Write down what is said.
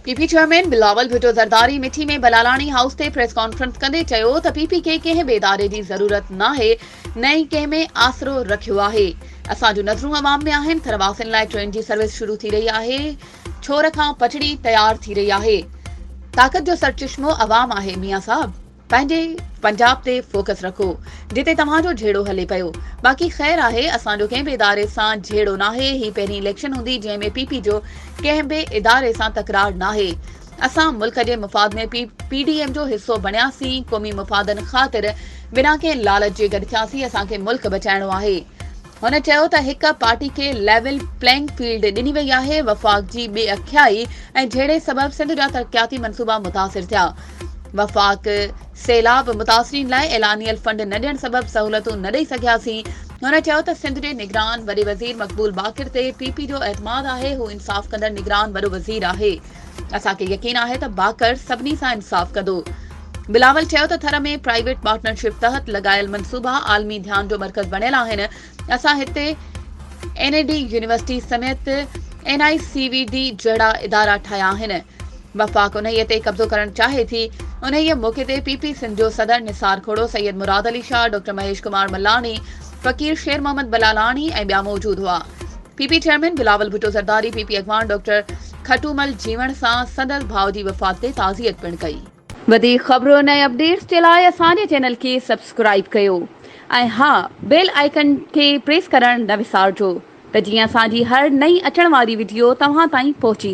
P P chairman Bilawal Bhutto Zardari Mithi ۾ Bilalani house تي press conference ڪندي چيو ته پي پي کي ڪنهن به اداري جي ضرورت ناهي نه ئي ڪنهن ۾ آسرو رکيو آهي اسان جون نظرون عوام ۾ آهن ٿر واسين لاء ٽرين جي سروس شروع ٿي رهي آهي ڇور کان پٽڙي تيار ٿي رهي آهي طاقت جو سرچشمو عوام آهي ميان صاحب پنهنجي پنجاب تي فوڪس رکو جتي توهان جو جهيڙو هلي پيو باقي خير آهي اسان جو ڪنهن به اداري سان جهيڙو ناهي هي پهرين اليڪشن هوندي جنهن ۾ پي پي جو ڪنهن به اداري سان تڪرار ناهي اسان ملڪ جي مفاد ۾ پي پي ڊي ايم جو حصو بڻياسين قومي مفادن خاطر بنا ڪنهن لالچ جي گڏ ٿياسين اسان کي ملڪ بچائڻو آهي هن چيو ته هڪ پارٽي کي ليول پلينگ فيلڊ ڏني وئي آهي، وفاق جي بي اکيائي ۽ جهيڙي سبب سنڌ جا ترقياتي منصوبا متاثر ٿيا، وفاق سيلاب متاثرين لاء اعلانيل فنڊ نه ڏيڻ سبب سهولتون نه ڏئي سگهياسين، هن چيو ته سنڌ جي نگران وڏي وزير مقبول باقر تي پي پي جو اعتماد آهي، هو انصاف ڪندڙ نگران وڏو وزير آهي. اسان کي يقين آهي ته باقر سڀني سان انصاف ڪندو. بلاول چيو ته ٿر ۾ پرائيويٽ پارٽنرشپ تحت لڳايل منصوبا عالمي ڌيان جو مرڪز بڻيل آهن، اسان هتي اين اي ڊي يونيورسٽي سميت N I C V D جهڙا ادارا ٺاهيا آهن، وفاق انهيء تي قبضو ڪرڻ چاهي ٿي، انهيء موقعي تي پي پي سنڌ جو صدر نثار کهڙو، سيد مراد علي شاهه، ڊاڪٽر مهيش ڪمار ملاڻي، فقير شير محمد بلالاڻي ۽ ٻيا موجود هئا، P P chairman Bilawal Bhutto Zardari, P P اڳواڻ ڊاڪٽر. کٽومل جيوڻ سان سندس ڀاء جي وفات تي تعزيت پڻ ڪئي. وڌيڪ خبرن ۽ اپڊيٽس جي لاء اسان جي چينل کي سبسڪرائيب ڪيو ۽ ها بيل آئيڪن کي پريس ڪرڻ نه وسارجو ته جيئن اسان جي هر نئين اچڻ واري وڊيو توهان تائين پهچي